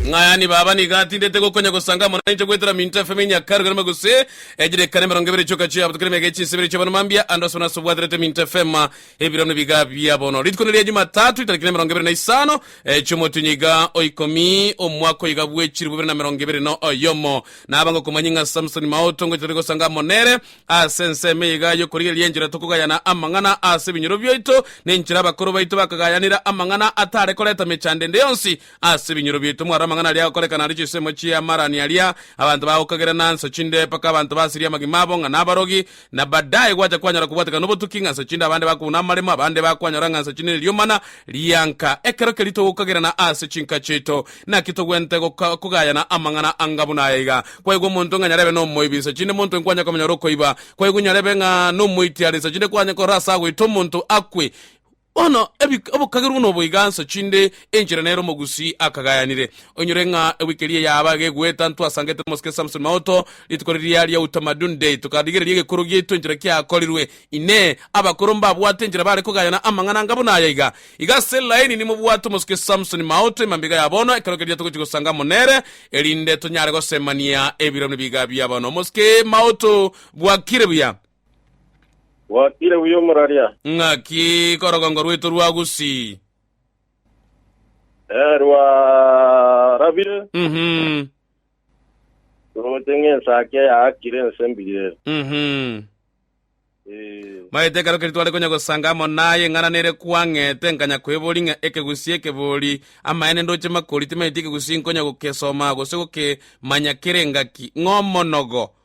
Ng'ayani baba nigo atindete gokonya gosanga amo nainche goetera minto efemo enyia karu kerema gose echidekano emerongo ebere chioka chia abato kera emiaka echinsa ebere chia bono mambia ande ase bono ase obwaterete minto efema ebirano ebiga bia bono rituko neria jumatatu ritariki na emerongo ebere na isano chiomotinyi iga oikomi omwaka oyiga bwechiribu ibere na merongo ebere na oyomo naba ngokomanyi ng'a samsoni mao tongochi tore gosanga amo nere ase ensemo eyiga yokorigereria enchera tokogayana amang'ana ase ebinyoro biaito nenchera abakoro baito bakagayanera amang'ana atare koreta mechando ende yonsi Ase ebinyoro biaito mware amang'ana aria agokorekana aria chinsemo chi'amarani aria abanto bagokagera na nsa chinde mpaka abanto basirie amagima abo ng'a nabarogi, na baadaye gwacha kwanyara kobwatekana nobotuki ng'a nsa chinde abande bakobuna amaremo, abande bakwanyora ng'a nsa chinde neriomana rianka. Ekero keria togokagerana ase chinka chiaito, naki togwenerete goka kogayana amang'ana anga buna aya iga, Kwaigwa omonto ng'a nyarebe nomoibi, nsa chinde monto enki kwanyare komenya ore okoiba? Kwaigwa nyarebe ng'a nomoiti are, nsa chinde kwanyare korora ase agoita omonto akwe? Bono ebi obokagerwa nobo iga nsochi inde enchera nere omogusi akagayanire. Onyore ng'a ewiki eria yaaba iga egweta ntwasangete nomosike Samson Maoto rituko riria ria Utamaduni Day tokarigereria egekoro giaito enchera kiakorirwe. Inee! Abakoro mbabwate enchera bare kogayana amang'ana anga buna aya iga? Iga ase elaini nimobwate omosike Samson Maoto emambia ya bono ekero keria togochi gosanga amo nere erinde tonyare gosemania ebiromo nibiga biaba nomosike Maoto. Bwakire buya. Gwakire buya omoraria? Ng'aki korogongo rwaito rwa Gusii? Eh, rwarabire. Mhm. Toroche ng'ensake yaakire ense mbire. Mhm. Eh, Maete ekero keria tware konya gosanga amo naye eng'ana nere kwang'ete nkanya kwebori ng'a ekegusii ekebori amaene ndoche makori timaeti ekegusii nkonya gokesoma gose gokemanya kere engaki ng'omonogo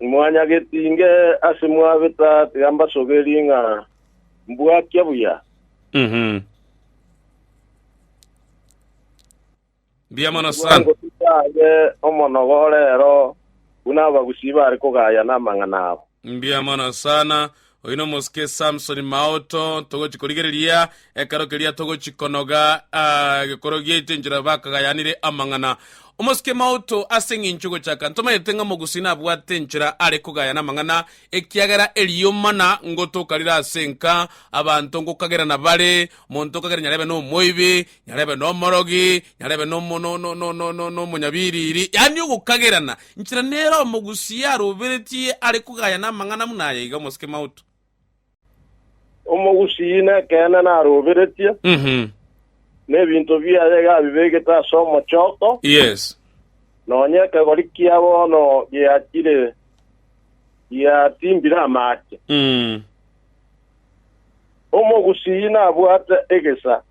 Imwanyagetinge ase mwabeta, tiga mbasoberie ng'a mbwakia buya. Mhm. Mbuya mono sana. Bwangotuta aye omonogo orero, buna abagusii bare kogayana amang'ana abo. Mbuya mono sana. Oyio nomosuke Samsoni Maoto, togochi korigereria ekero keria togochi konoga ah, gekoro giaito enchera bakagayanire amang'ana. Omosuke Maoto ase eng'encho gochaka ntomanyete ng'a mogusi nabwate enchera are kogayana amang'ana ekiagera erio mana ngotoka rire ase enka abanto ngokagerana bare, monto okagera nyarebe nomoibi, nyarebe nomorogi, nyarebe nomo, no, no, no, no, no, nomonyabiriri, yaani ogokagerana nchera nere omogusia aroberetie are kogaya namang'ana buna aya iga omosike mauto. Omogusia nekeene naroberetie, Mhm. na ebinto biaye iga abibegete ase omochoko, Yes. nonya ekegori kia bono giachire giatimbire amaache. Mm. Omogusia nabwate egesa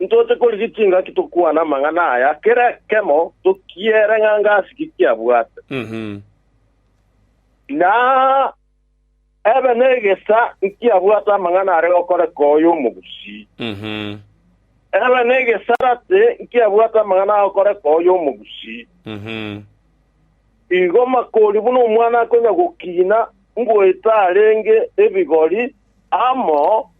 Ntoche korigia chingaki tokwane amang'ana aya, kera ekemo tokiere ng'a ngasi ki kiabwate. Na ebe negesa nkiabwate amang'ana are gokoreka oyo omogusii. Ebe negesarate nkiabwate amang'ana agokoreka oyo omogusii. Igo makori buna omwana akonya gokina ngoeta arenge ebigori amo.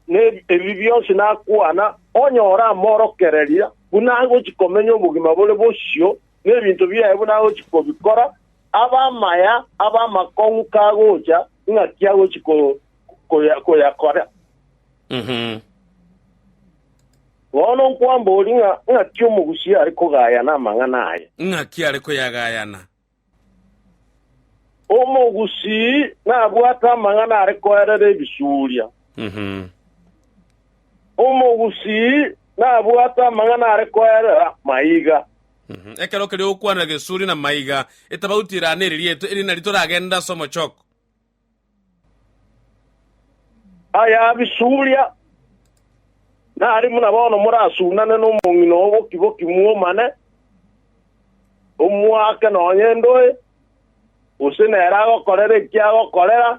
ne ebibi bionsi nakwana, onye oramoorokereria, buna agochia komenya obogima bore bosio, ne ebinto biaye buna agochia kobikora, abe amaya, abe amakong'u kagocha, ng'aki agochia ko- koya- koyakora? Mhm. Bono nkwambori ng'a ng'aki omogusi are kogayana amang'ana aye. Ng'aki are koyagayana? Omogusii nabwate amang'ana are koerera ebisuria. Omogusii nabwate amang'ana are koerera maiga. Ekero keria ogokwanera gesuria na maiga, etabauti erane eri rieto, eri nari toragende ase omochoko. Ayabisuria, nari buna bono morasunane nomong'ina o boki-boki mwomane, omoake nonya endoe, gose nere agokorere eki agokorera,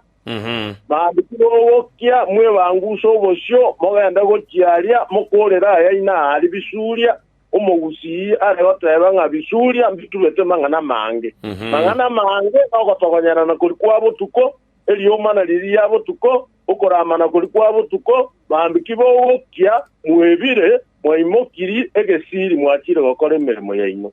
mambia timogokia mwebanguse obosio mogende gochia aria mokorera ayaino aria bisuria. omogusii are goteeba ng'a bisuria mbiturete mang'ana amange. Mang'ana amange nogotogonyanana kori kwa botuko, erioma nario ria botuko, okoramana kori kwa botuko, mambia ki bogokia, mwebire, mwaimokiri egesiiri mwachire gokora emeremo yaino.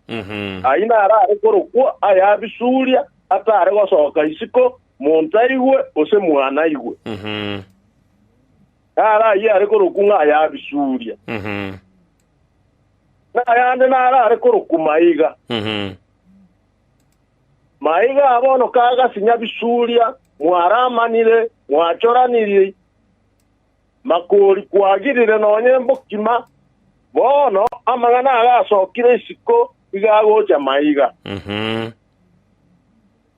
Ayio naro are korokwo aya bisuria, atare gosoka isiko, monto aigwe, gose mwana aigwe. Naro ayio are korokwo ng'a aya bisuria. Nayande narare korokwa maiga. Maiga aa bono kagasinya bisuria, mwaramanire, mwachoraniri, makori kwagirire nonya embokima, bono amang'ana agasokire isiko iga agocha maiga.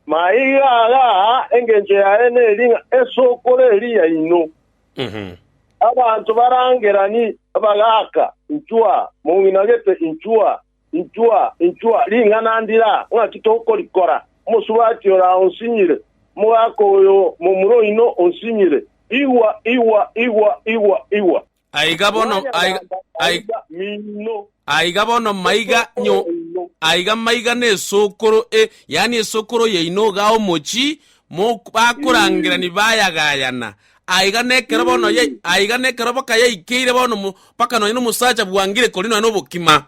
Maiga aga aa engencho yaye neri ng'a esokoro eria yaino. Abanto barangerani, bagaaka, Inchwa! Mong'ina gete, inchwa! Inchwa! Inchwa! Ring'ana ndira! Ng'aki tokorikora? Omosubati ora onsinyire, omogaka oyo momura oino onsinyire. Igwa! Igwa! Igwa! Igwa! Igwa! Aiga bono, aiga, aiga. Mwayanyaga miino. Aiga bono maiga nyo, aiga maiga n'esokoro e, yaani esokoro yaino igaa omochi, mok, bakorangerani bayagayana. Aiga nekero bono ya, aiga nekero baka yaikeire bono mo, mpaka nonya nomosacha bwangire kori nonya nobokima.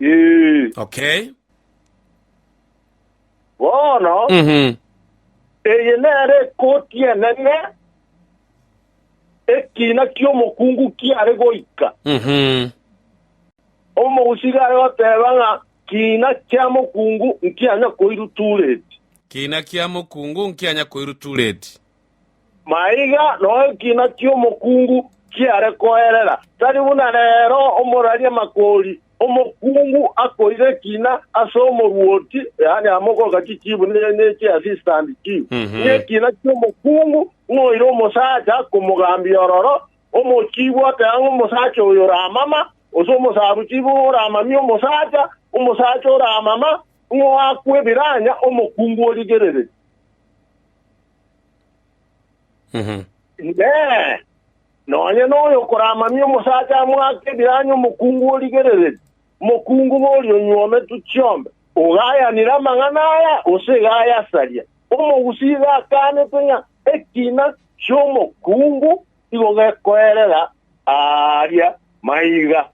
Ee. Okay. Bono, Mhm. eye nere ekoti enene ekiina ki'omokungu kiare goika, omousi iga are goteeba ng'a kiina kia mokungu nkianya koirwa Tureti. Kiina kia mokungu nkianya koirwa Tureti. Maiga no ekiina ki'omokungu kiare koerera, tari buna reero omoraria makori Omokungu akoira ekina ase omoruoti, yaani amogoka chichibu ne- neche assistant chief, ng'ekina ki'omokungu, ng'oire omosacha akomogambia ororo, omochibu oteba ng'a omosacha oyo oramama, gose omosabuchibu oramamie omosacha, omosacha oramama, ng'oakwe ebiranya, omokungu origerererie. Inee! Nonya noyo okoramamia omosacha amoake ebiranyi omokungu origerereria, omokungu boria onywa ometu chiombe, ogayanire amang'ana aya, gose iga ayasaria. Omogusii iga akaanete ng'a ekina ki'omokungu igo gekoerera aaria maiga.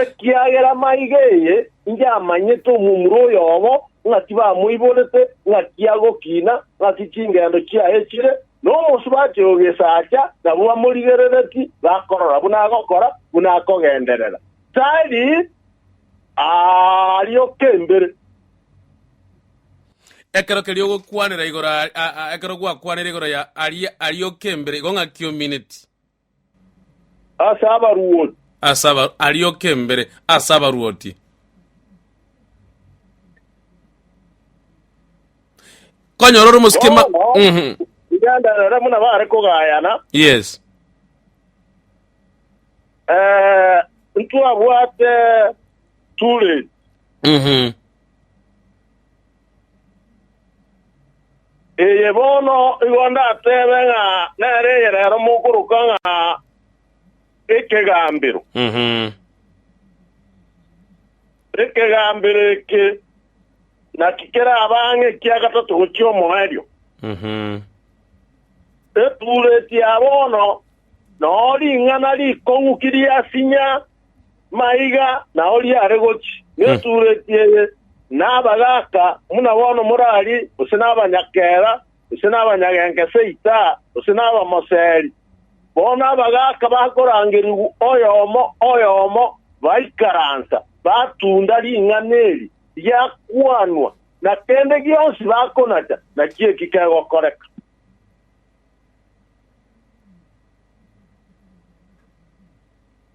Ekiagera maiga eye inche amanyete omomura oyomo, ng'a tibamoiborete, ng'aki agokina, ng'aki chingendo chiaye chire, na omosubati ogesacha, nabwo bamorigerereti, bakorora buna agokora, buna akogenderera. Tari arioka embere. Ekero keria ogokwanera igoro a, a, a, ekero gwakwanire igoro ya aria arioka embere igo ng'a kiomineti. Ase abaruoti Ase aba, arioka embere ase abaruoti. Konyora ore omosike ma... bono Mhm. igenderere buna bare kogayana Yes. eh, ntwabwate Turin Mhm. Eye bono igo ndatebe ng'a nere egerero mokoroka ng'a Ekegambero. Ekegambero eke naki keraba ang'e ekia gatato gochia omoerio. Etuureti ya bono noo ring'ana rikong'u kiriasinya Maiga na oria are gochia netureti eye, nabagaaka buna bono morari, gose nabanyakera, gose nabanyagenka ase itaa, gose nabamoseri. Bono abagaaka bakorangerigwa oyomo oyomo, baikaransa, batunda ring'ana eri riakwanwa, na kende gionsi bakonacha, nakio eki kegokoreka.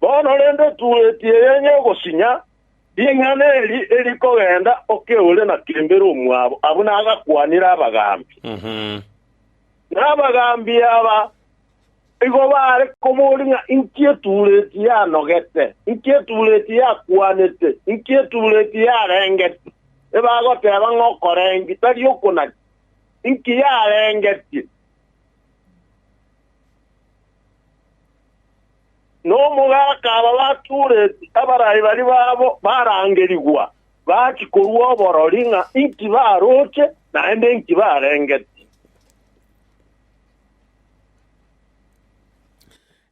Bono rende otueti eyenye ogosinya ring'ana eri erikogenda okeore na kembere omwabo abwo nagakwanire abagaambi. Na abagaambi aba igo baare komoria ng'a inki etueti yanogete, inki etueti yakwanete, inki etueti yarengeti. Ebagoteba ng'a okorengi tari okonaki, inki yarengetie? Nomogaka aba batureti abarai baria babo barangerigwa, bachia korua oborori ng'a inki baroche, naende inki barengeti.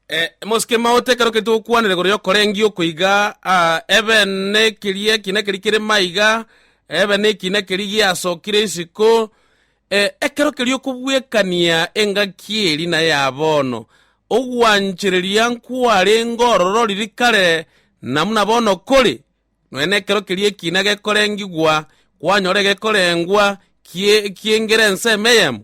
Eh, mosike maote ekero keria togokwanera igoro y'okorengia okwo iga ah, ebe nekiria ekina keria kere maiga ebe nekina keria giasokire isiko Ekero keria okobwekania engaki eri na ya bono, ogwanchereria nkwarenge orororiri kare na buna bono kore, nonya nekero keria ekiina gekorengigwa kwanyora egekorengwa ki'engere ensemo eyemo.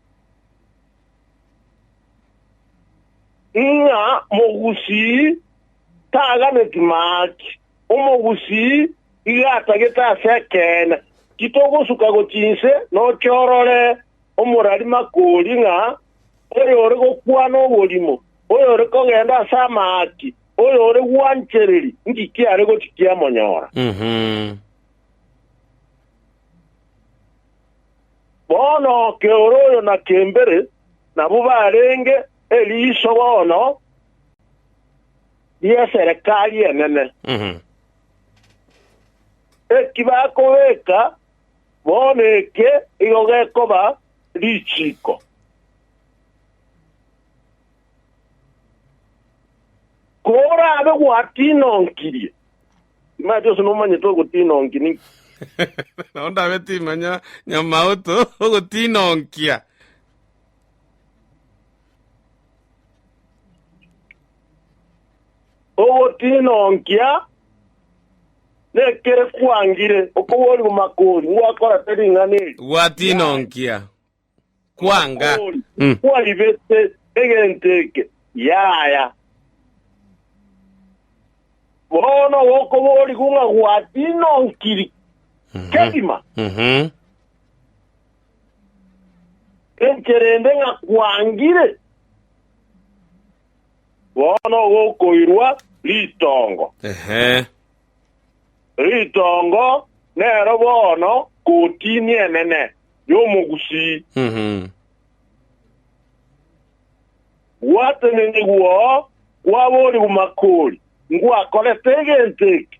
Ng'a mogusii taganeti maaki, omogusii iga atagete ase ekeene. Titogosuka gochia inse noke orore omorari makori ng'a oyore gokwana oborimo, oyore kogenda ase amaaki, oyore gwanchereri ng'iki are gochia kiamonyora. Bono keoro oyo na kembere nabwo barenge eriiso bono ri'eserekari enene. Eki bakobeka bono eke igo gekoba richiiko. Kooraabe gwatinonkirie. Timanyeti onsi nomanyete ogotiina onki ninki. Nao ndabe timanya nyamauto ogotiina onkia. Ogotiina onkia nekere kwangire okoboorigwa makori ngwakorete ring'ana eri. Gwatiina onkia. kwanga. Omonto oria kwaibete egento eke, yaya. Bono gokoborigwa ng'a gwatiina onkiri kegima, Mhm. inche rende ng'a kwangire, bono gokoirwa ritongo. Ehe. Ritongo nero bono kotini enene y'omogusii. Gwatenenyigwa oo kwaboorigwa makori, ngwakorete egento eke,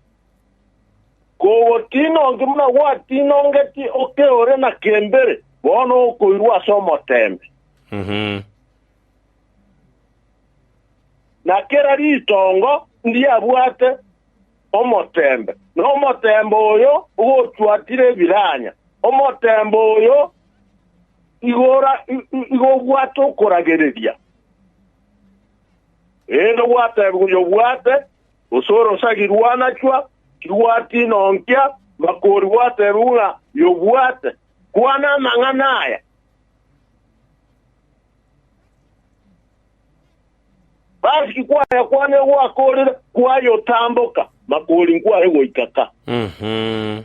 kogotinonki buna gwatinongeti oke ore na kembere, bono okoirwa ase omoteembe. na kera ritongo ndiabwate omoteembe, na omoteembe oyo ogochwatire ebiranya, omoteembe oyo igora i- i- igobwate okoragereria. Erinde ogwateebigwa oyo obwate, gose orosagirwe anachwa, tigwatina onkia, makori gwateebigwa ng'a yobwate. Kwana amang'ana aya. Basi kwaya kwane gwakorire kwayotamboka, makori nkware goika ka. Mhm.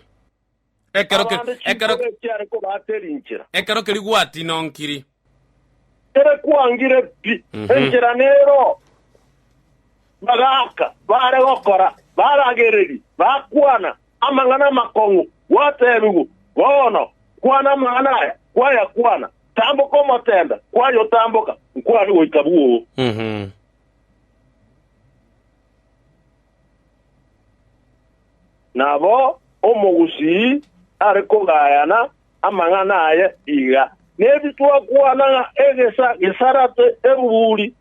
Ekero ke- Abande ekero chinkoro echiare kobatera inchera. ekero keria gwatina onkiri. Ere kwangire pi, Mhm. enchera nero. Bagaaka, bare gokora, baragereria, bakwana, Amang'ana amakong'u gwateebigwa, Bono, kwana amang'ana aya, kwayakwana, tamboka omoteembe, kwayotamboka, nkwane goika bwoo. Nabo omogusii are kogayana amang'ana aye iga, Nebi twakwana ng'a egesa gesarate ebuburi.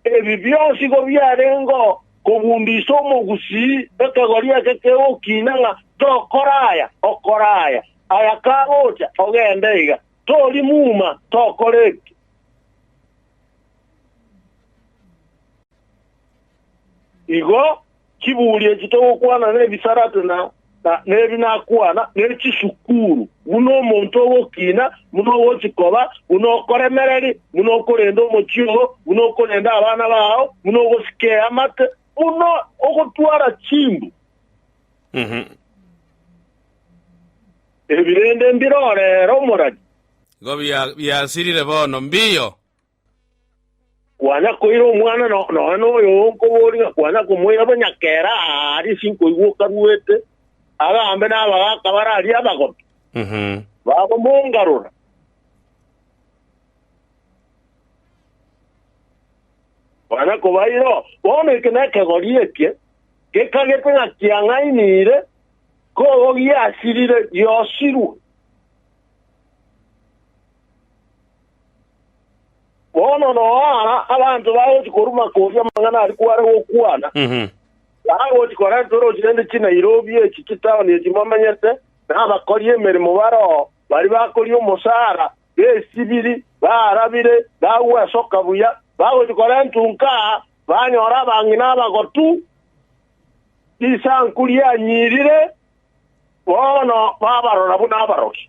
Ebi bionsi igo biarengeo kobundisa omogusii ekegori eke kegokina ng'a tokore aya, okore aya, aya kagocha, ogende iga, tori muma, tokore ebi. Igo. chiburi echi togokwana nebisarate na nebi nakwana ne chisukuru, buna omonto ogokina, buna ogochi koba, buna okoremereri, buna okorenda omochie oo, buna okorenda abana bao, buna ogosika eamate, buna ogotwara chimbu. Ebi rende mbirore ere omoradi. Nigo biasirire bono. Mbiyo! Kwana koira omwana no- nonya noyo onkoboriga, kwana komoira bo nyakera aa aria sinkoigwa okaruete, agambe nabagaka bare aria abagobe, Mhm. bagomongarora. Kwana kobaira oo, bono eke nekegori eke gekagete ng'a kiang'ainire, kogo giasirire, giosirwe. Bono noa aa abanto bagochia koruma koria amang'ana aria kware gokwana, bagochia korenta orochi rende chinairobi echi chitaoni echi momenyete, na abakori emeremo bare oo baria bakoria omosaara, besibiri, baarabire, bagwesoka buya, bagochia korentwa nka aa, banyore abang'ina abagotu, risanku rianyirire, bono babarora buna abarokia.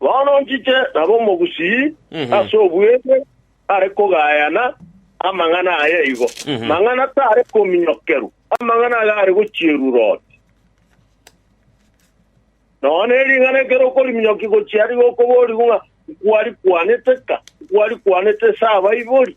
Bono nchiche nabe omogusii ase obweng'e are kogayana amang'ana aya igo, mang'ana tare kominyokerwa, amang'ana aya are gochierwa roti. Nonya ne ring'ana ekero okoriminyokigwa gochia ariga okoborigwa ng'a nkwari kwanete ka, nkwari kwanete ase abaibori.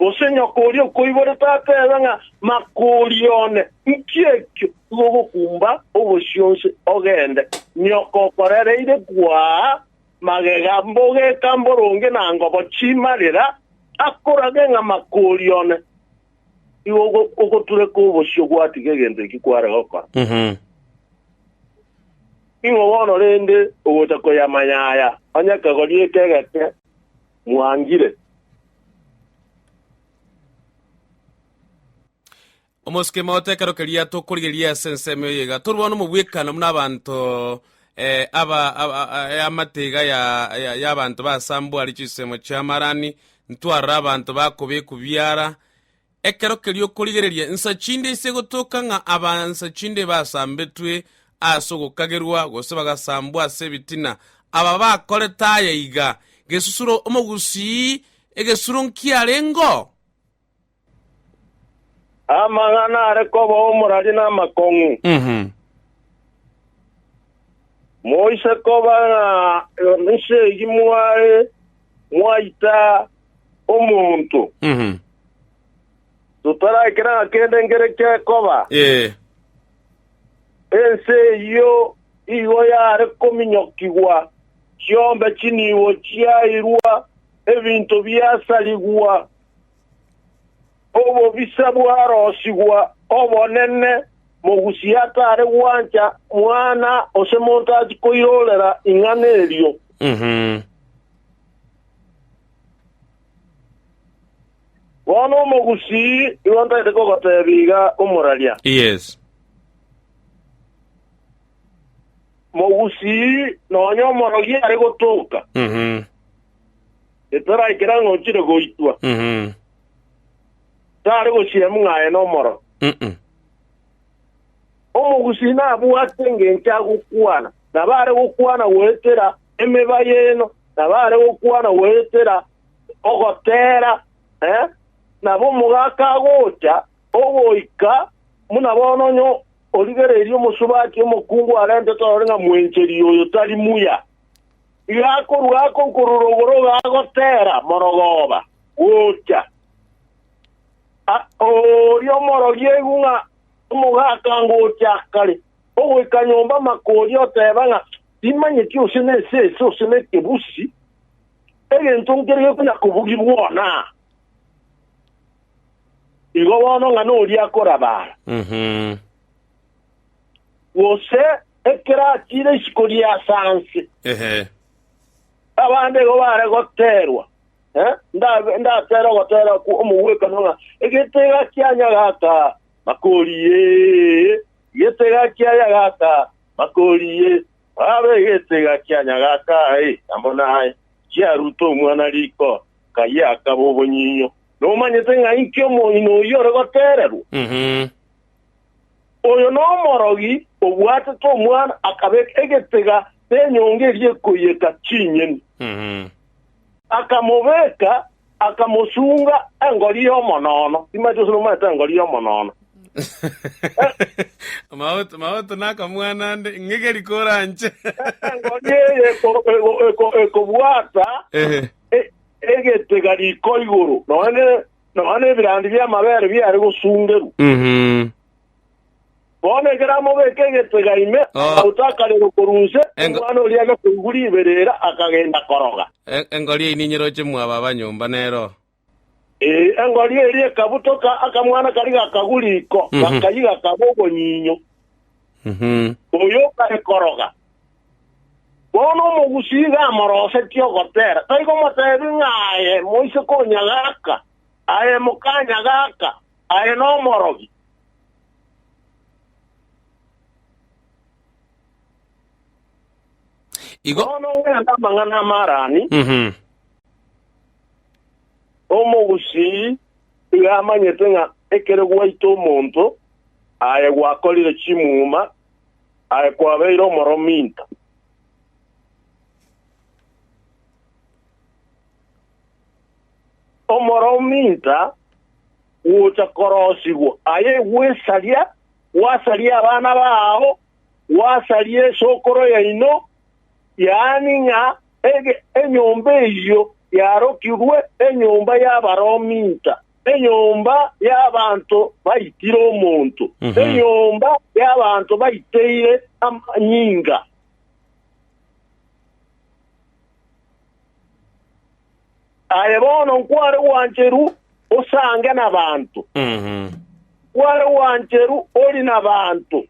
Gose nyoko oria okoibore tata ebe ng'a makori one, nki ekio? Igo ogokumba obosio onsi, ogende. Nyoko okorereire kwaa magega, mbogeka mboronge na ngobo chimarera, akorage ng'a makori one. Igo ogo- ogotureka obosio gwatiga egento ekio kware gokora. Mhm. Ning'o bono rende ogocha koyamanya aya, onye kegori eke egeke? mwangire. Omosuke maoto ekero keria tokorigereria ase ensemo eye iga torwane omobwekano buna abanto eh, aba aba- a- e amate iga ya ya- y'abanto basambwari chinsemo chi'amarani ntwarora abanto bakobekwa biara Ekero keria okorigereria nsa chinde ise gotoka ng'a aba nsa chinde basambetwe ase ogokagerwa gose bagasambwa ase ebitina, aba bakorete aya iga, Gesusuro omogusii egesuro nkiarengeo? Amang'ana are koba omorari namakong'u. Moise koba ng'a nse eyio mware. mwaita omonto, Mhm. totarakera ng'a kende nkere gekoba. Ee. Ense eyio igo yare kominyokigwa, chiombe chinibo chiairwa, ebinto biasarigwa, Obobisa bwarosigwa obonene, mogusi atare gwancha mwana gose monto achi koirorera ing'ana erio. Bono omogusi nigo ntaete kogotebia iga omoraria, Yes. mogusi nonya omorogi are gotoka. Mhm. Etaraikera ng'a ochire goitwa. Tare gosiemwa ng'a aye nomoro. Omogusii nabwate engencho agokwana, nabo are gokwana goetera emeba y'eno, nabo are gokwana goetera ogoteera, nabo omogaka agocha ogoika buna bono onye origereirie omosubati omokungu arentete orore ng'a mwencheri oyo tari muya. Iga akorua ako nkorurogoroga agotera morogooba gocha a- oria omorogiegu ng'a omogaka ngocha kare ogoika nyomba amakori oteba ng'a timanyeti ose nesese ose nekebusi egento nkere gekonya kobugi bwona igo bono ng'a noria akorabara Mhm. gose ekero atiire isiko rie ase anse. Ehe. Abande igo bare goteerwa, eh, ndabe- ndateere ogoteera okwo omogwekano ng'a egetega kia nyagaka makori ye, egetega kia nyagaka makori ye, babe egetega kia nyagaka aye amo naye. Chiaruta omwana riko, kaye akaba obonyinyo. Nomanyete ng'a inki omoino oyio ore goteererwa? Mhm. Oyo nomorogi obwatete omwana, akabeka egetega nenyonga eria ekoiyeka chinyeni, akamobeka, akamosunga engori y'omonoono. Timanyeti gose nomanyete engori y'omonoono? Maoto, maoto nakamwana nde, ng'eke rikora nche. Engori eye eko- eko- eko- ekobwata Ehe. e- egetega riko igoro, nonya ne- nonya nebirandi bi'amabere biare gosungerwa. Bono ekero amobeke egetega ime, amauto akarerwa korwa inse, omwana oria agakoigwa riberera, akagenda koroga. Engori eyio ninyeroche mwaba abanyomba nero. Ee, engori eria ekabutoka, akamwana karia gakagwa riko, gakayia gakaba obonyinyo. Oyo okare koroga Bono omogusii iga amorosetie ogotera, taikomotebia ng'a aye moise konya gaka, aye mokanya gaka, aye nomorogi. Igo Bono ngende amang'ana amarani, Mhm. omogusii iga amanyete ng'a ekero gwaita omonto aye gwakorire chimuma Aye kwabeire omoromo into. Omoromo into gwocha korosigwa, aye gwesaria, gwasaria abana bao, gwasaria esokoro yaino, yaani ng'a ege- enyomba eyio yarokigwe enyomba y'abaromo into. Enyomba y'abanto baitire omonto, Mhm. enyomba y'abanto baiteire amanyinga. Aye bono nkware gwancheru osange nabanto, Mhm. nkware gwancheru ori nabanto,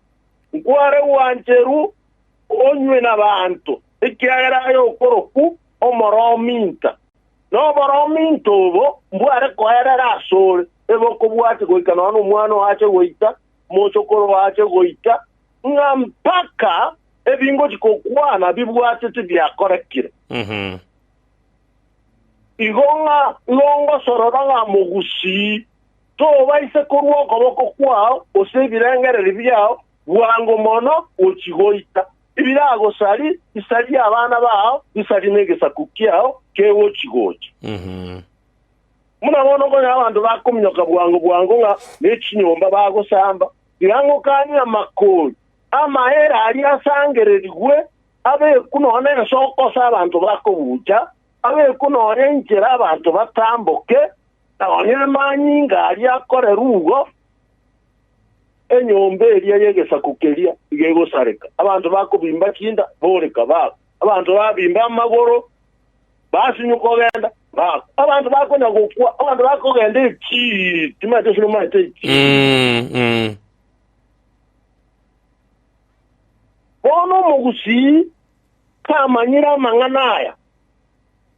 nkware gwancheru onywe nabanto, ekiagera aye okoroku omoroo minta. Noboromi into obo mbware koerera asore, ebe okobwatia goika nonya nomwana oo ache goita, omosokoro oo ache goita, ng'a mpaka ebingochi gokwana bibwateti biakorekire. Igo ng'a nongosorora ng'a mogusii, tobaisa korua okoboko kwao, gose ebirengererio biao, bwango mono gochi goita. Tibiragosari, isaria abana bao, isaria negesaku kiao kegochi-gocha. Buna bono konya abanto bakominyoka bwango bwango ng'a ne chinyomba bagosamba, tiga ngokanie amakori. Amahere aria asangererigwe, abekwe nonya nensoko ase abanto bakobucha, abekwe nonya inchera abanto batamboke, nonya amanyinga aria akorerwe ugo. Enyomba eria y'egesaku keria nigo egosareka, abanto bakobimba chinda boreka bagwe, abanto babimba amagoro basinywe kogenda bagwe, abanto bakonya gokwa, abanto bakogenda echii timaete ase nomaete echii. Bono omogusii kamanyire amang'ana aya.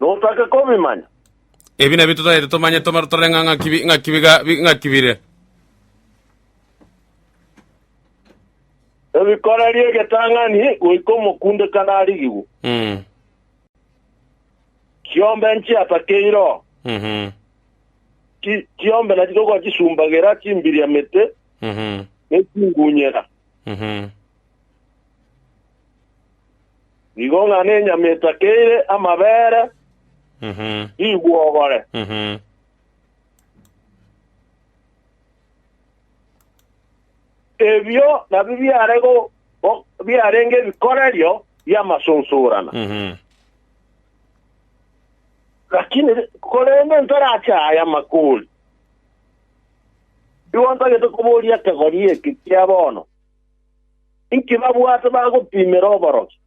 Notake kobimanya. Ebi nabio totagete tomanye tomare torore ng'a ng'aki bi- ng'aki biga- bi- ng'aki bire. Ebikorerie egetang'ani goika omokundekano arigigwe. Mm. Chiombe nchiatakeire oo. Mhm. Chi- Chiombe nachi togochisumbagera chimbiriamete Mhm. ne chingunyera. Nigo ng'a nenyama etakeire amabere rigwogore. Ebio nabio biare go- go- biarenge ebikorerio bi'amasunsurana. Lakini ri- korende ntarache aya makori. Nigo ntagete koboria ekegori eke kia bono, Inki babwate bagopimera oborokia?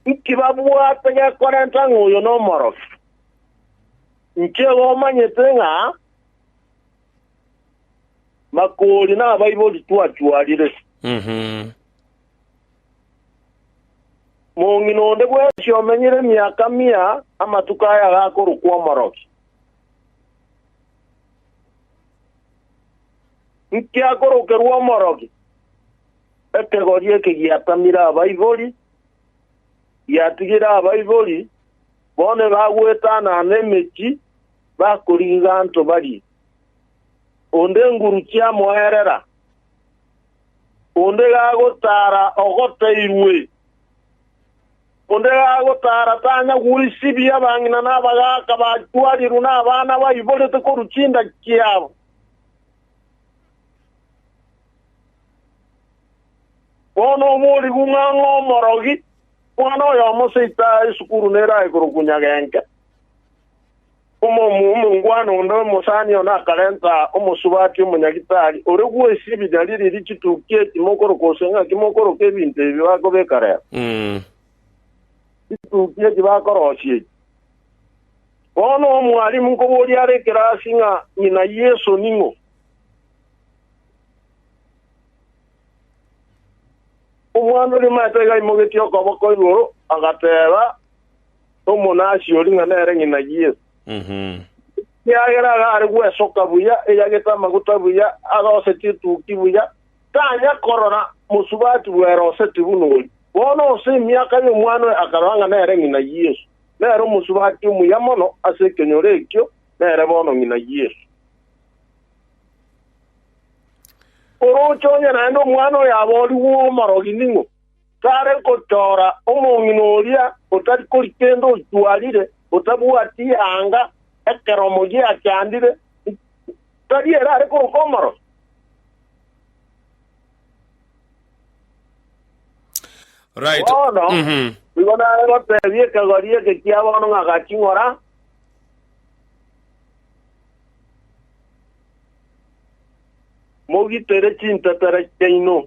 Inki babwate gekorenta ng'a oyo nomorokia? Inki igo omanyete ng'a makoori nabaibori twachwarire? Mhm. Mong'ina onde bwensi omenyire emiaka mia amatuko aya agakorokwa omorokia. Nkiakorokerwa omorogi, ekegori eke giatamire abaibori, giatigire abaibori bone bagwetanana emechie, bakorigia anto barie. Onde enguru chiamoerera, onde gagotara ogoteirwe. Onde agotaara tanyara goisibia abang'ina na abagaaka bachwarirwe na abana baiborete korwa chinda chiabo. Bono oborigwe ng'a omorogi mwana oyomo seito aye isukuru nerae korokwa nyag'enke. Omoomwa omongwana onde omosani one akarenta omosubati omonyagitari ore gwesia ebinyari eriri chituki eki mokoroka gose ng'aki mokoroka ebinto ebi bakobeka rero. Chituki echi bakorosia echi. Bono omwalimu nkoboria are ekerasi ng'a ng'ina Yeso ning'o? Omwana oria omanyete iga aimogetie okoboko igoro, agateeba, omonasiori ng'a nere ng'ina Yeso, ekiagera iga are gwesoka buya, eyagete amaguta buya, aroseti etuki buya, tanya korora mosubati bw'eroseti buna oria. Bono ase emiaka y'omwana oye akarora ng'a nere ng'ina Yeso, nere omosubati omuya mono ase ekenyoro ekio, nere bono ng'ina Yeso. Oroche onye naende omwana oyo aborigwe omorogi ning'o? tare gotoora omong'ina oria otari kori kende ochwarire, otabwati anga ekeromo giachandire, tari ere are koruka omoroso. Right. Bono Mhm. igo nare goteebia ekegori eke kia bono ng'a ga ching'ora, mogitere chintetera chiaino,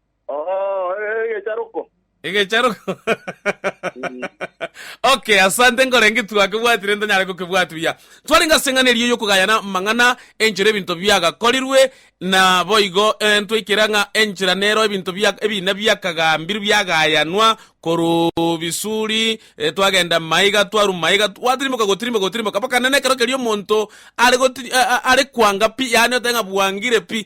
Oo, eh, egecharoko. Egecharoko. okay, asante nkorenge twakebwatire ntanyare gokebwati buya. Twarenge ase eng'ana eria y'okogayana amang'ana enchera ebinto biagakorirwe na boigo eh, ntwaikera ng'a enchera nero ebinto bia ebina biakagambirwe biagayanwa korwa bisuri eh, twagenda maiga twarwa maiga gwatirimboka gotirimboka gotirimboka mpaka nene ekero keria omonto are goti- a- a- are kwanga pi yaani oteba ng'a bwangire pi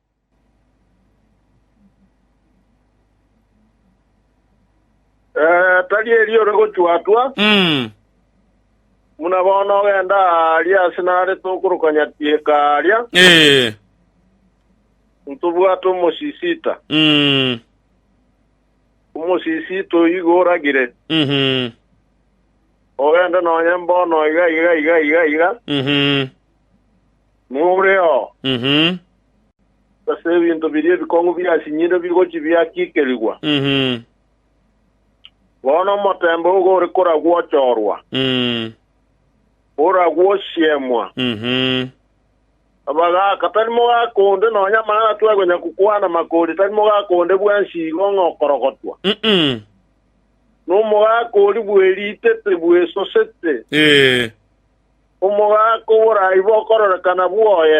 Eh, tari erio ore gochwatwa Mm. muna bono ogenda aria ase nare tokoroka nyatieka aria Eh. ntobwate omosisita Mm. omosisita oyigo oragire Mhm. ogende nonye mbono iga iga iga iga iga Mhm. Niboreo, Mhm. gose ebinto biria ebikong'u biasinyirwe bigochia biakiikerigwa, Mhm. bono omotembe ogo ore koragwochorwa, Mm. oragwosiemwa. Mhm. Abagaaka, tari mogaaka onde nonya amang'ana twekonya gokwana makori, tari mogaaka onde bwensi igo ng'a okorogotwa. Mm-mm. Nomogaaka oria bweritete, bwesosete, Eh. Omogaka oborai bokororekana bwoye,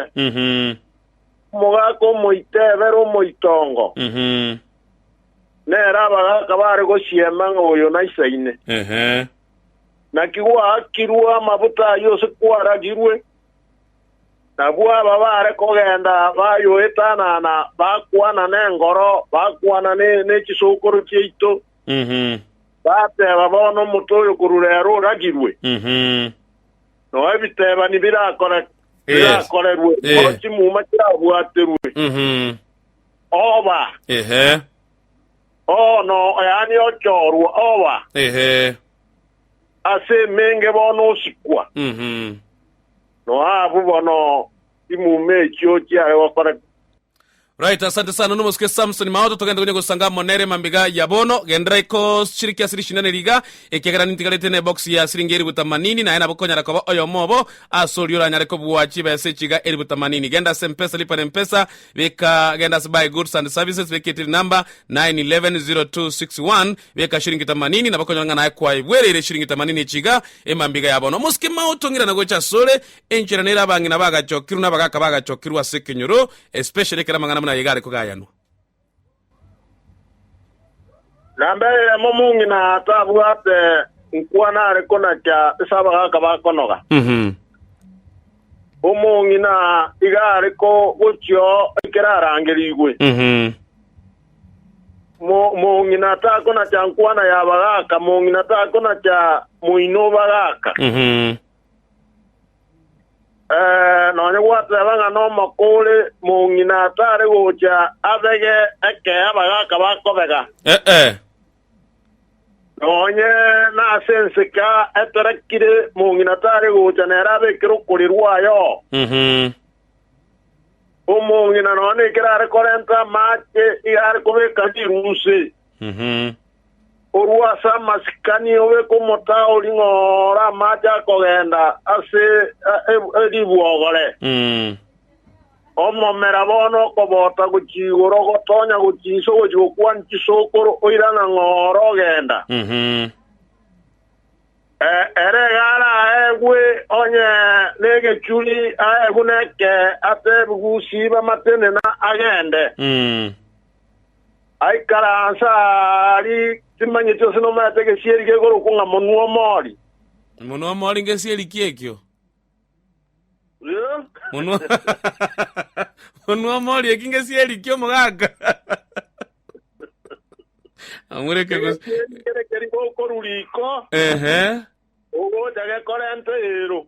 omogaka omoitebero omoitongo, nere abagaka bare gosiema ng'a oyo naisaine. Naki gwaakirwe amabuta ayio ase kwaragirwe, nabwo aba bare kogenda bayoetanana, bakwana nengoro, bakwana ne chisokoro chiaito, Bateba, Bono omote oyo korwa reero oragirwe, noe ebitebani birakorerwe, noe chimuma chirabwaterwe. Oba, bono, yaani ochoorwa, oba ase emenge, bono osikwa, noe abwo bono chimuma echio chiare gokoreka. Right, asante sana nomosuke Samson Maoto, togende gonya gosanga amo nere mambiga ya bono. Gendera iko shiriki asiri shindane riga, ekiagera nintigarete ne box ya siringi eribu tamanini, naye nabo konyara koba oyomo obo ase oria oranyare kobua chibesa echiga eribu tamanini. Genda ase Mpesa, lipa na Mpesa, beka genda ase buy goods and services, beka etiri number 911061, beka shiringi tamanini, nabo konyora ng'a naye kwaibwereire shiringi tamanini echiga emambiga ya bono. Omosuke Maoto ng'irana gocha asore, Enchera nere abang'ina bagachokirwe na abagaaka bagachokirwe ase ekenyoro, especially ekero amang'ana buna aye iga are kogayanwa. Na mbere eyemo omong'ina tabwate nkwa nare konakia ase abagaaka bakonoga, Mhm. omong'ina iga are ko- gochio ekero arangerigwe. Mhm. Mo- Mong'ina takonakia nkwana y'abagaaka, mong'ina takonakia moino o bagaaka. Mhm. Eh, nonya gwateba ng'a nomoko ore mong'ina atare gocha abege ekea bagaka bakobega, Ee, nonye nase ensika eterekire mong'ina atare gocha nere abekere okori rwaye oo. mhm, Omong'ina nonya nekero are korenta amache iga are kobeka rirusi, mhm, Korwa ase amasikani obe komotaori ng'a ore amache akogenda ase eribwogore. Omomera bono okobota gochia igoro ogotonya gochia inse ogochia gokwania chisokoro oirana ng'a ore ogenda. Ere egare aegwe onye negechuri, aegwe neke atebigwe usibe amatenena agende. Aikaranse aari timanyeti onsi nomerete egesieri kekorokwa ng'a monwa omori. Monwa omori ngesieri ki ekio? Monwa monwa omori eki ngesieri ki omogaka? Amureke gos- Egesieri kere keri gokorwa riko, ehe. ogocha gekorenta eero.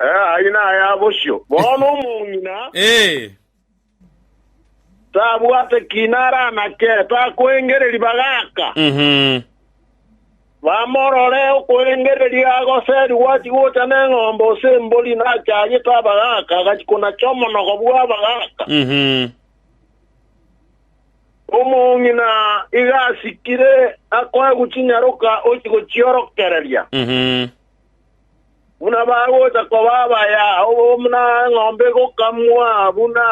Eh, ayio naya bosio. Bono omong'ina Eh, tabwate kiina aranake, takoengereria ribaga aka. mhm. Bamorore okoengereria agoseri gwachi gocha neng'ombe ose embori nachagete abaga aka, agachi konacha omonogo bw'abaga aka. Mhm. Omong'ina iga asikire akoe gochinyaroka ochie gochiorokereria, buna bagocha koba abaya buna eng'ombe egokamwa, buna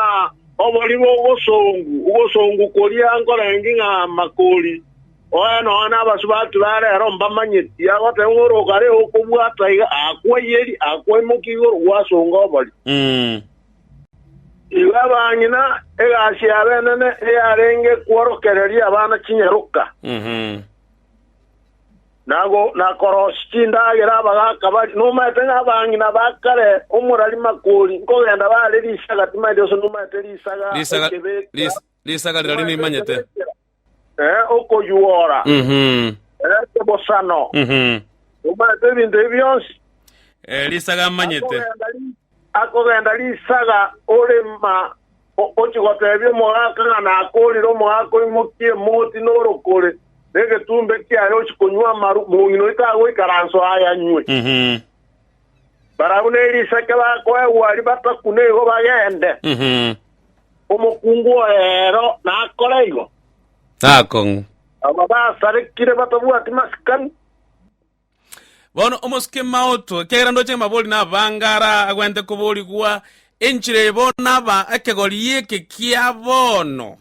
obori bw'ogosongu ogosongu koria nkorenge ng'a makori. Oe, nonya nabasubati ba rero mbamanyeti, agoteba ng'a orogare okobwata iga, akwaiyerie, akwaimokia igoro, gwasonga obori. Igo abang'ina egasi y'abenene eyarenge kworokereria abana chinyaroka, na go- na korosia chindagera abagaaka baria. Nomaete ng'a abang'ina ba kare omorari makori nkogenda bare risaga timaeti, gose nomaete risaga Risaga- ekebekera, ris- risaga riria timaeti nimanyete. ekebekera. eh, okoyuora, Mhm. eh, kebosano, Mhm. omanyete ebinto ebi bionsi, Eh, risaga amanyete. akogenda ri- akogenda risaga orema o- ochi gotebia omogaka ng'a nakorire omogaka oimokie emoti norokore negetumbe kiaye ochi konywa amaru mong'ina oito agoikaranso ayanywe Mhm. barabwo nerisake bakoegwa ribatakune igo bagende Mhm. Omokungu oye ero nakore igo. Nakong'u. Aba basarekire batabwati masikani. Bono omosike maoto, ekiagera ndoche amabori nabanga ara agwenerete koborigwa, enchera eye bono naba ekegori eke kia bono.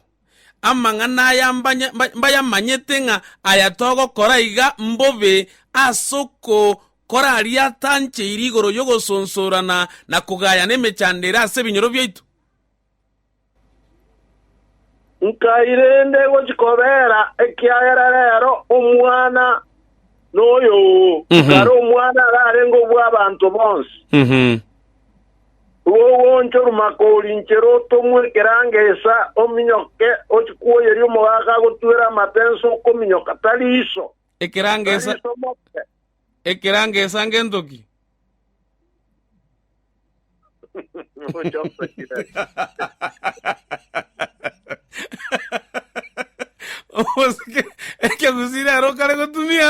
Amang'ana aya mbanye- mba- mbayamanyete ng'a aya togokora iga mbobe ase oko- koraria atancheire igoro y'ogosonsorana na kogayana emechando ere ase ebinyoro biaito? Nkairenta egochia kobeera, ekiagera rero omwana noyo oo, kare omwana ararenge obw'abanto bonsi. Igo ogoonchorwa maka orinchere otomwe ekerango esa, ominyoke, ochie kwoyeria omogaka agotwere amapensa okominyoka, tari iso. Ekerangesa, Bariso moke. ekerangesa ngento ki? Ochosekire. Omosike, ekegusii rero okare gotumia.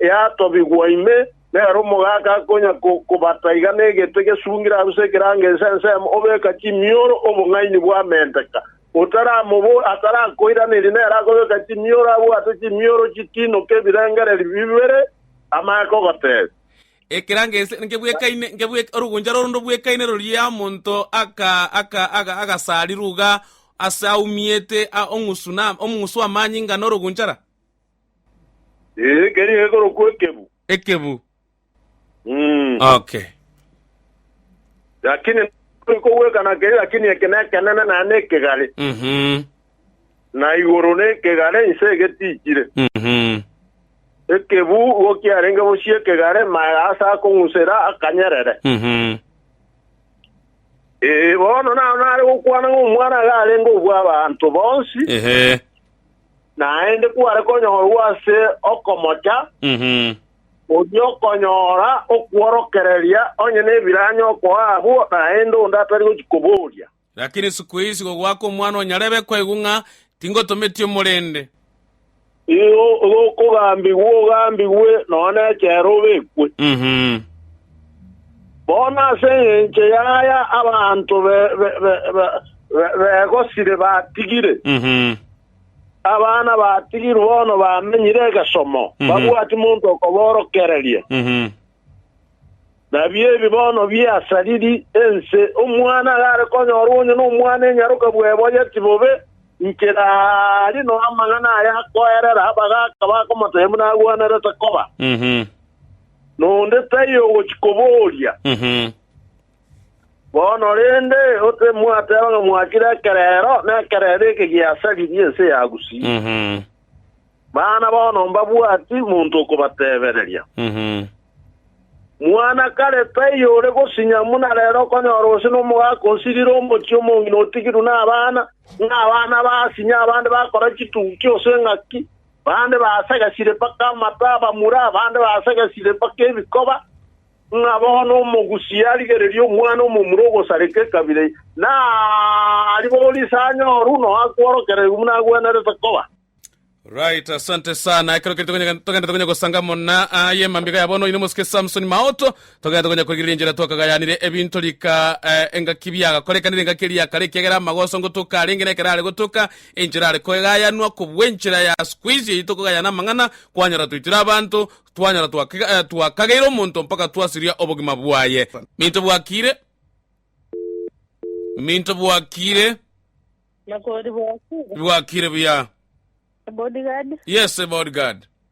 yatobigwa ime, nere omogaka akonya kobata iga negete gesungire aruse ekerango ense ensemo, obeka chimioro obong'aini bwamenteka. Otaramobori, atarakoiraneria, nere akobeka chimioro abwate chimioro chitinoke ebirengererio bibere amaya kogotebia. Ekerango ense ngebwekaine, ngebwek, orogoncha roro ndobwekaine roria omonto aka, aka, aka, agasarire uga ase aumiete, a, ong'usu na, omong'usu amanyinga na orogoncha ra. Ee, keria gekorokwa ekebu. Ekebu. Mm. Okay. Lakini turi kogwekana keria, lakini eke nekenene naye nekegare, Mhm. na igoro nekegare inse egetichire. Mhm. Ekebu igo kiarenge bosie ekegare, maega ase akong'usera akanyerere. Mhm. Ee, bono naro nare gokwana ng'a omwana iga arenge obw'abanto bonsi, Ehe. naende kware konyorwa ase okomocha, oria okonyora okworokereria onye nebiranyo okoa abwo, naende onde atari gochia koboria. Lakini siku eye isiko goaka omwana o nyarebe kwaigwa ng'a tingotometie omorende. Igo okogambigwa ogambigwe, nonya nechera obekwe. Bono ase engencho y'aya abanto begosire batigire, abana batigirwe bono bamenyire egesomo, babwati monto okoborokereria. Nabio ebi bono biasariri ense, omwana agare konyorwa onye nomwana enyaroka bweboyeti bobe, inche rari noamang'ana aya akoerera abagaaka bakomotebia buna agwenerete koba. nonde taiyo ogochia koboria. Bono rende gose mwateba ng'a mwachire ekerero, na ekerero eke giasaririe ense ya Gusii, mana bono mbabwati monto okobatebereria. Mwana kare taiyo ore gosinya buna rero okonyora gose nomogaka osirire omochie omong'ina otigirwe nabana, ng'a abana basinya abande bakora chitukia gose ng'aki, Bande baasagasire mpaka amato abamura, abande baasagasire mpaka ebikoba, ng'a bono omogusi arigererie omwana omomura ogosareka ekabira eye, naribore ise anyoru noa kworokererigwa buna agwenerete koba. Right, asante sana. Ekero keri tokonyega- togenda tokonya gosanga muna aye mambiga ya bono, oyino mosike Samson Maoto, Togete gonya koigera enchera twakagayanire ebinto rika engaki biagakorekanire engaki eria ya kare ekiagera amagoso ngotoka arenge nekero are gotoka enchera are koegayanwa kobua enchera ya squeeze eyio tokogayana amang'ana kwanyora toitire abanto twanyora twakageire omonto mpaka twasiria obogima bwaye minto bwakiire minto bwakiire Nakori bwakiire. bwakiire buya Bodyguard. yes bodyguard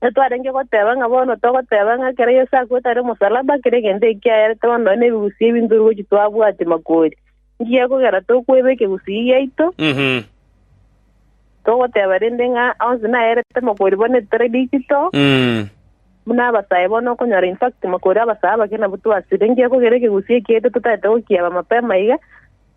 Titwarenge goteba ng'a bono togoteba ng'a ekero Yeso akwete are omosalaba kera egento eki kiayarete bono nonye nebigusii ebinto rirochi twabwati makori. Inki gekogera tokweba ekegusii giaito? Mhm. Togoteba rende ng'a onsi nayarete makori bono etari digital, Mm. buna abasae bono okonyora in fact makori abasae abake nabwo twasire. Inki gekogera ekegusii eki giaito totaete gokieba mapema iga?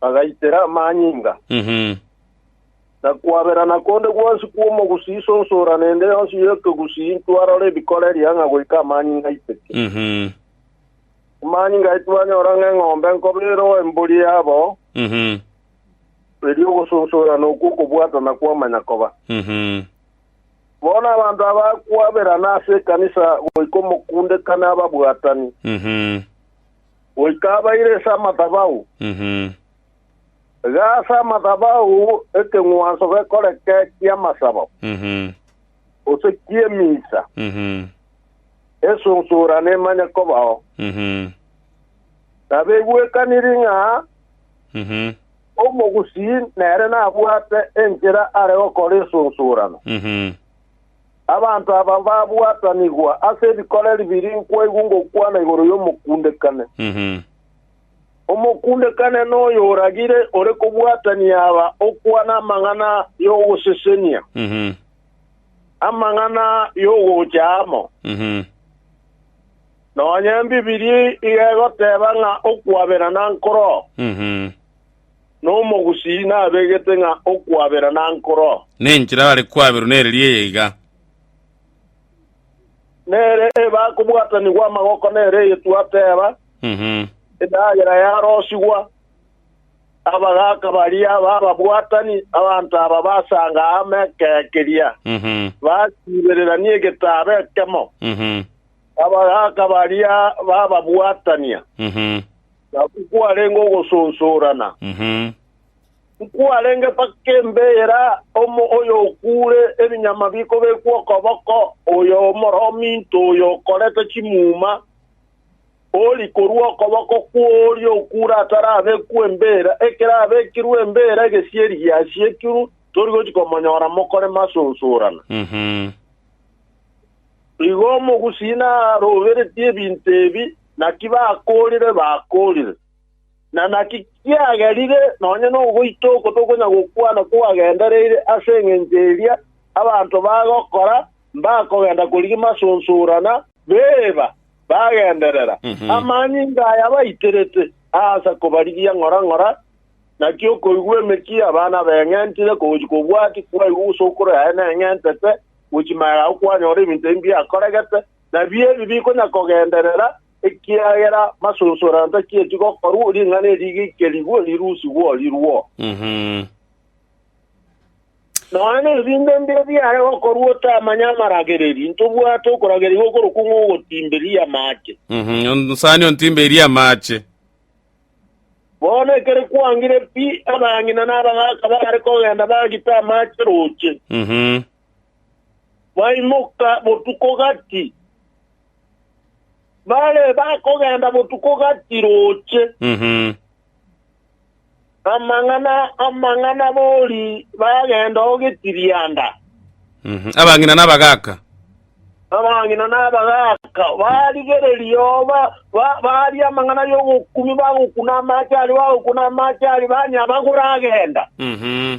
bagaitera amanyinga, na kwaberana konde gwonsi kw'omogusii isonsora nende yonsi y'ekegusii ntwarora ebikoreria ng'a goika amanyinga aiteke. Amanyinga aye twanyora ng'a eng'ombe nkobe eroe embori yabo, erio ogosonsorana okwo okobwatana kwamanya koba. Bono abanto aba kwaberana ase ekanisa goika omokundekano ababwatani. goika abaire ase amathabau. Iga ase amathabau ekeng'wanso gekoreke ki'amasabo, gose ki'emisa, esunsura nemanye kobao. Nabegwekaniri ng'a omogusii nere nabwate enchera are gokora esunsurano. Abanto aba mbabwatanigwa ase ebikoreri biri nkwaigwa ngokwana igoro y'omokundekane. Omokundekane noyo oragire ore kobwatania aba okwana amang'ana y'ogosesenia, amang'ana y'ogocha amo. Nonya Embibilia iga egoteba ng'a okwaberana nkoroo. nomogusii nabegete ng'a okwabera nankoro. Nenchera bare kwaberwa nereria eye iga. Nere eba kobwatanigwa amagoko nere eye twateba, Endagera yarosigwa, abagaaka baria bababwatani, abanto aba basanga amo ekero keria, basiibererania egetaabo ekemo, abagaaka baria bababwatania. Naki kwarenge ogososorana, nkwarenge mpaka embeera, omo oyokuure ebinyama bikobekwa okoboko, oyo omoro ominto oyo okorete chimuma, ori korwa okoboko kw'oria okuure atarabekwa embeera, ekero abekirwe embeera egesieri giasiekirwe, tori gochia komonyora mokore masosorana. Igo omogusii naroberetie ebinto ebi, naki bakoorire, bakoorire. Na naki kiagerire nonya nogoita oko tokonya gokwana kwagendereire ase engencho eria abanto bagokora, mbakogenda korigia masonsorana, beeba, bagenderera amanyinga aya baiterete aase kobarigia ng'ora ng'ora, naki okoigwa emechie abana beng'entire kogochia kobwati kwaigwa gose okoro yaye neng'entete. gochia ime yao kwanyora ebinto ebi mbiakoregete, nabi ebi bikonyakogenderera, ekiagera masunsurano tachieti gokorwa, ring'ana eri rigerigwe, rirusigwe, rirwo. Mhm. Nonya nebinto mbire biare gokorwa otamanye amaragereria, ntobwate okorageria gokorokwa ng'ogotimberia amache. Mhm. Onsani ontimbeirie amache. Bono ekero kwangire pi, abang'ina na abagaaka baare kogenda bagita amache roche. Baimoka botuko gati, bare bakogenda botuko gati roche. Amang'ana, amang'ana bori bagenda o getirianda. Abang'ina na abagaaka. Abang'ina na abagaaka barigereria oo, ba- ba- baria amang'ana y'ogokumi, bagokuna amache aria, bagokuna amache aria, banyabagure agenda. Mhm.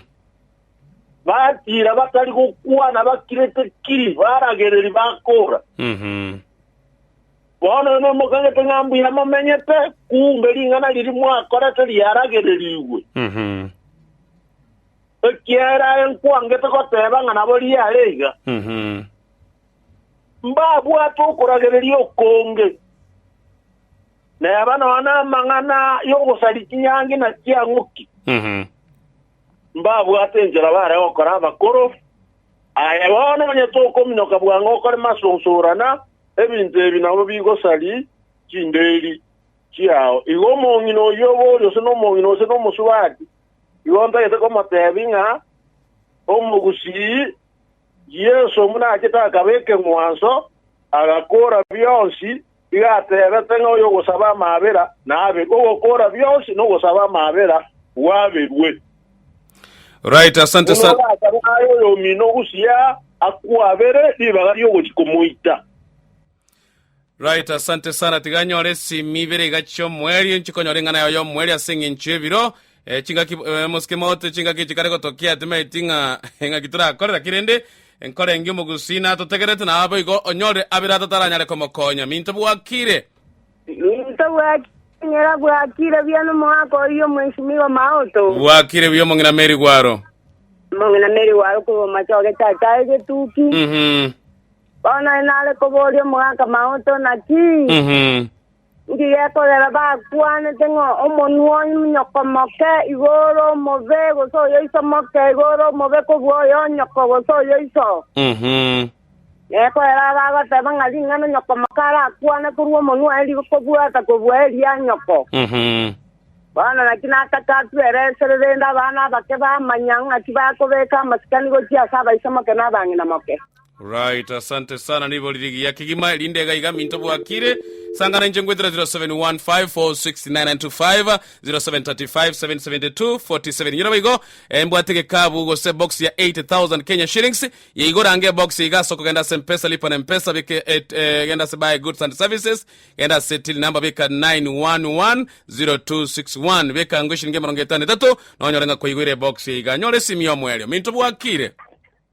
Batiira batari gokwana, bakirete kiri, baragereri bakora. Mhm. Bono inwe mokagete ng'a mbuya momenyete, kumbe ring'ana riria mwakorete riaragererigwe. Ekiagera aye nkwangete goteba ng'a nabo riare iga. Mbabwate okoragereria okonge, neba nonya namang'ana y'ogosaria chinyangi na chiang'uki, mbabwate enchera bare gokora abakoro, Aye bono onye tokominoka bwango okorema ase ogosogorana ebinto ebi nabwo bigosari chinderi chiao. Igo omong'ina oyio obe ore ase nomong'ina gose nomosubati, igo ntagete komotebi ng'a omogusii Yeso buna achete akaba ekeng'wanso, agakora bionsi Iga ateebete ng'a oyogosaba amaabera naabe ogokoora bionsi, na ogosaba amaabera gwaberwe. Right, asante Buna sana. orasabe aye oyomino gusii aa, akwabere ribaga riogochia komoita. Right, asante sana. Tiga anyore esimi ibere iga chi'omweri, nchikonyora eng'ana yaye y'omweri ase eng'encho y'ebiro Eh, chingaki eh, mosike mote chingaki echi kare gotokia timaeti ng'a eng'aki torakore lakini rende enkora engi omogusina atotegerete na abo igo onyore abere atataranyare komokonya minto bwakire Minto bwaking'era bwakire buya n'omoaka oyio omwenchimi igo maoto. bwakire buya omong'ina meri gwaro Mong'ina meri waro koboma choge chachae getuki. Mhm, Bono nare koboria omoaka maoto naki. mhm. Inki gekorera bakwanete ng'a omonwa onyoko moke igo ore omobe, gose oyoiso moke igo ore omobe kobua oyonyoko gose oyoiso? Nekorera abagoteba ng'a ring'ana onyoko moke arakwane korwa omonwa aye rigo kobua atakobua eria nyoko. Bono naki nataka atue ere esere, rende abana abake bamanya ng'a tibakobeka amasikani gochia ase abaisomoke na abang'ina moke. Right, asante sana nibo riri giya kigima erinde iga iga minto bwakire sangana inche ngwetera 0715469925 0735772470 nyora baigo eh, mbwate gekabu gose box ya 80000 Kenya shillings yeigo range box iga soko genda se mpesa lipa na mpesa bike et, eh, genda se buy goods and services genda se till number bika 911026 bika ngo shilingi emerongo etano etato nonyore nga koigwire box iga nyore simi omwerio minto bwakire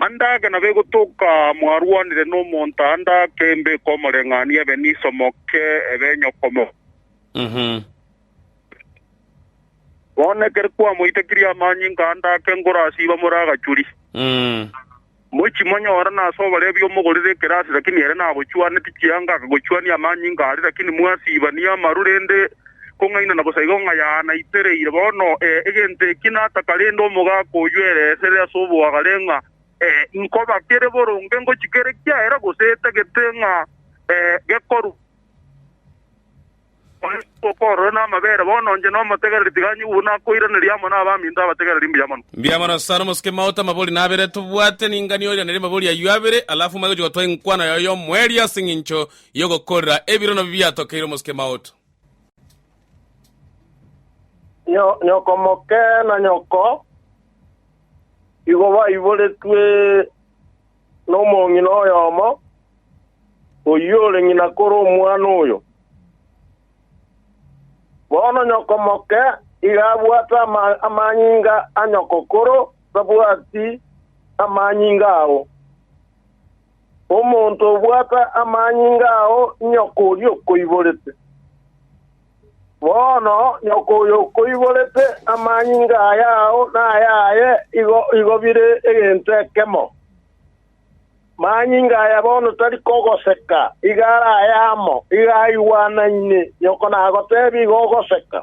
Ande ake nabegotoka mwarwanire nomonto ande ake mbeke omoreng'anio ebe niso moke ebe enyokomo. Bono ekero kwamoitekirie amanyinga ande ake nkorasiba more agachuri. Mochi monyore nase oborebi omogorere ekerasi, lakini ere nabochuaneti chianga akagochuania amanyinga aria, lakini mwasibanie amaru rende kong'aina na bosa igo ng'a yanaitereire. Bono ee, egento eki nataka rende omogaka oyio ere esere ase oboagare ng'a ee, nkoba kere boronge ngochia kere kiaera gose etagete ng'a ee, gekorwa Onye okorora namabere, bono inche nomotegereri tiga anyigwe buna akoiraneria amo nabaminto abategereri mbuya mono. Mbuya mono sana Omosuke Maoto, amabori nabere tobwate ningani oiranerie amabori ayio abere, alafu omanye gochia gotwaa enkwano yago y'omoerio ase eng'encho y'ogokorera ebirono bibi biatokeire Omosuke Maoto. Nyo- nyokomoke na nyoko igo baiboretwe nomong'ina oyomo, oyio ore ng'ina kore omwana oyo. Bono nyokomoke iga abwate ama- amanyinga a nyokokoro, tabwati amanyinga ao. Omonto obwata amanyinga ao inyoko oria okoiborete. Bono nyoko oyo okoiborete amanyinga aya ao nayaye igo igo bire egento ekemo. Manyinga aya bono tari kogoseka, iga are ayamo, iga aigwanaine, nyoko nagotebia igo ogoseka.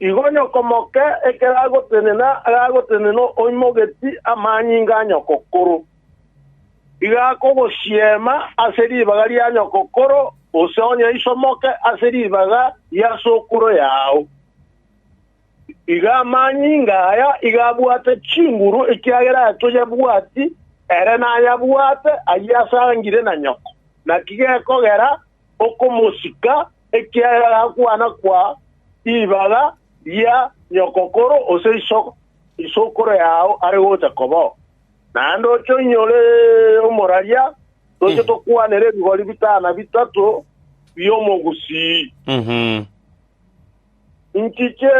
Igo nyoko moke ekero agotenena agagotenena oimogetsi amanyinga a nyokokoro, iga akogosiema ase ribaga ria nyokokoro, gose onye isomoke ase ribaga ria sokoro yao. Iga amanyinga aya iga abwate chinguru, ekiagera aye toyabwati, ere nayabwate, ayio asangire na nyoko. Naki gekogera okomosika, ekiagera agakwana kwa ribaga ria nyokokoro gose isoko, isokoro yao are gocha kobao. Naende oche onyore omoraria, toche tokwanere ebigori bitana bitato bi'omogusii. Mhm. Inki kie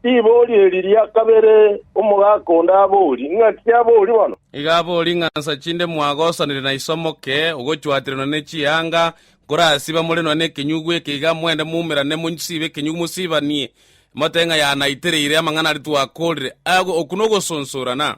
ribori eri ria kabere omogaka onde abori? Ng'a ki abori bono? Iga abori ng'a nsa chinde mwagosanire na iso omoke, ogochwatiranwa ne chianga, nkorasiba more nonya nekenyugu eke iga, moende moumerane monsibe ekenyugu mosibanie, motebe ng'a yanaitereire amang'ana aria twakorire. Aya okwo nogosonsorana?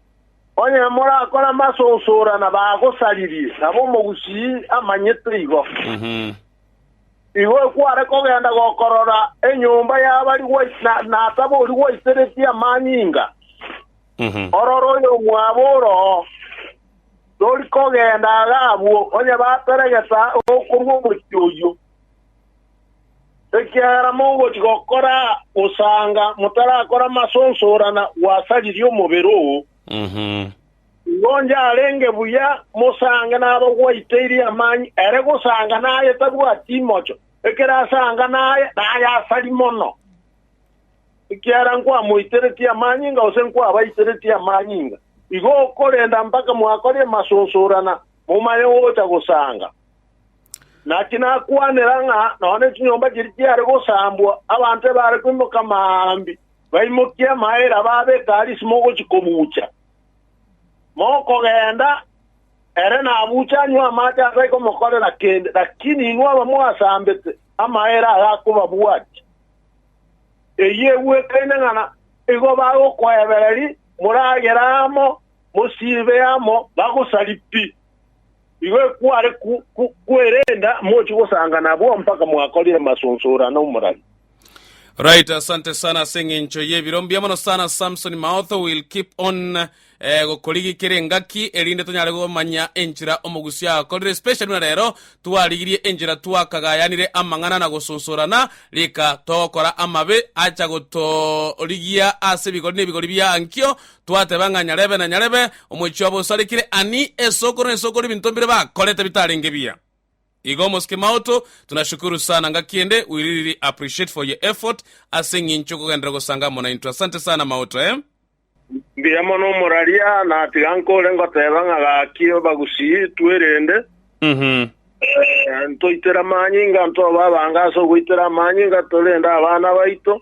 Onye morakore amasousora na bagosaririe, nabo omogusii amanyete igo. Igo ekware kogenda gokorora enyomba y'abari gwaite na, na ataba oria gwaiteretie amanyinga. Ororo oyomwabo oroo tori kogenda agwo, onye bateregeta okorwa omochie oyio. Ekiagera mogochia gokora gosanga motarakora amasosorana gwasaririe omobere oo. Igo onde arenge buya mosange naro gwaiteirie amani ere gosanga naye tabwati imocho, ekero asanga naye, naye asari mono. Ekiagera nkwamoiteretie amani inga gose nkwabaiteretie amani inga, igo okorenda mpaka mwakoria amasosorana momanye gocha gosanga. Naki nakwanera ng'a nonya nechinyomba chiria chiare gosambwa, abanto ebare koimoka amaambia, baimokie amaere aba abe ekari isimo gochia kobuucha. Mokogenda, ere nabuuche anywe amache atari komokorera kende, lakini inwe abamwasambete, amaere aye akobabwatia. Eyio egwekaine ng'a nigo bagokoebereria, moragere amo, mosiibe amo, bagosari pi. Igo ekware kwerenda mochi gosanga nabwo mpaka mwakorire masunsuura nomorari. Right, asante sana ase eng'encho y'ebiro mbuya mono sana Samson Maotho will keep on eh, gokorigi kere engaki erinde tonyare gomanya enchera omogusi akorire especially buna rero twarigirie enchera twakagayanire amang'ana na gosunsurana rika togokora amabe acha gotorigia ase ebigori na ebigori bia ankio Twateba ng'a nyarebe na nyarebe omochie obo osarekire ani esoko na esoko ribinto mbire bakorete bitarenge biya. Igo Mosque Maoto, tunashukuru sana nga kiende we really appreciate for your effort ase eng'incho okogenderera gosanga amo naintwe. Asante sana Maoto eh. Mbuya mono omoraria, natiga nkore ngoteba ng'a gaki abagusii twerende, ntoitere amanyinga, ntobe abange ase ogoitera amanyinga, torende abana baito,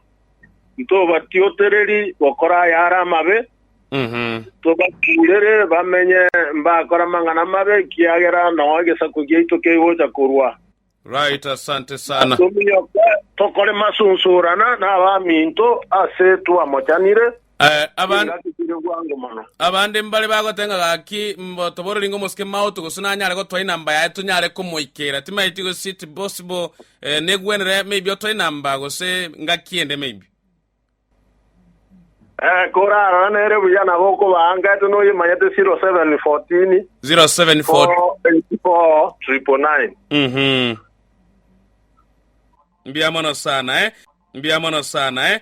Ntobatiotereri gokora ayare amabe, ntobakurere bamenye mbakore amang'ana amabe, ekiagera nao egesaku giaito kegocha korwa. Right, asante sana. Tominyoke tokore masunsurana n'abaminto ase twamochanire. Eh, aban- Chingaki chire bwango mono. abande mbare bagoteba ng'a gaki mbo toboreri ng'a omosike maoto gose nanyare gotwara inamba yaye tonyare komoikera timaeti gose it possible eh, negwenere maybe otware inamba gose ngaki ende maybe Eh, korarora nere buya nabo okobaa ngete noyemanyete 0714 07 484 999 Mhm. Mbia mono sana eh. Mbia mono sana eh.